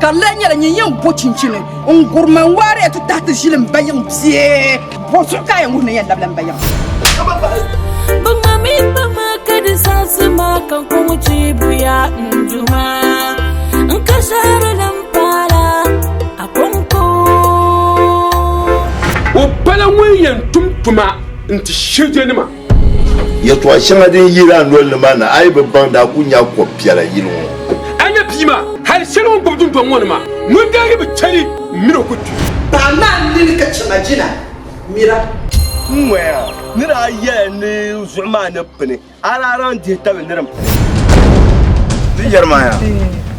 Ka di lee nyɛla nyin yɛn bo chinchini n-gurima n-waariya ti tahi ti ʒili m-bayiŋ bie? Bo zuɣu ka a yɛn wuhi ni yɛn labila m-bayiŋ? Bɛ ŋma mi kpa ma ka di zaɣisi ma ka n kɔŋ chiibuya n-du ma n ka shɛhiri li m-paala a kɔŋko. O pala ŋun yɛn tum tuma n-ti shirijanima. Yɛltɔɣa shɛŋa din yiri a noli ni maa ni a yi bi baŋ daa ku nya kɔb piɛla yili ŋɔ. A nya bia maa hali shɛli o ni gbubi dundɔŋ ŋɔ ni maa ŋun daa yi bi chɛli min o ku kpi. Paɣ maa n nini ka chɛma jina mira. N ŋɔya, ni daa yɛla ni zuɣu maa ni pini, a daa lan dihi tabi ni din pini. Di yɛri maa yaa,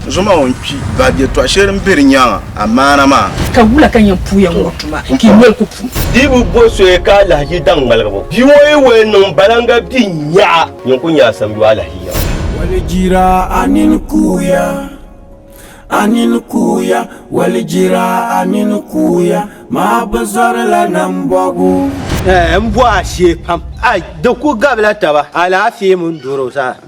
zuɣu maa o ni kpi, baab yɛltɔɣa shɛli din be di nyaaŋa amaana maa. Ka wula ka n yɛn puuya ŋɔ tuma ka i noli ku pum? Di bi bo soya ka alahichi daŋ ŋmaligibu. Bia ŋɔ yi wali niŋ balaŋga bia n-nyaɣa. Yin ku nyaɣi samiyu alahichi yaŋ. Walijira a nini kuuya, a nini kuuya, walijira a nini kuuya, maa bi zɔri la nambɔbu. Eeh m bɔhi a shee pam. Ai di ku gabila taba alaafee mini doro zaa.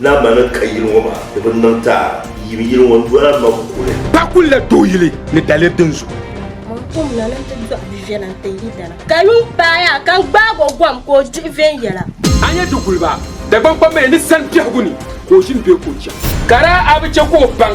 Naa maa ni ka yili ŋɔ maa di bi niŋ ti a yim yili ŋɔ n-doli a ma kuli. Pa kul la tooi yili ni daliri din zuhi. Mɔɣu kom na ni n-ti dɔɣi bi viɛla n-ti yi dana. Ka yuŋ paai a ka n-gbaag o gom ka o dihi viɛnyɛla. A ni yɛn ti guli ba Dagbaŋ kpambaliya ni sani biɛhigu ni ka o ʒini bee ka o chani? Ka daa a bi chɛ ka o baŋ.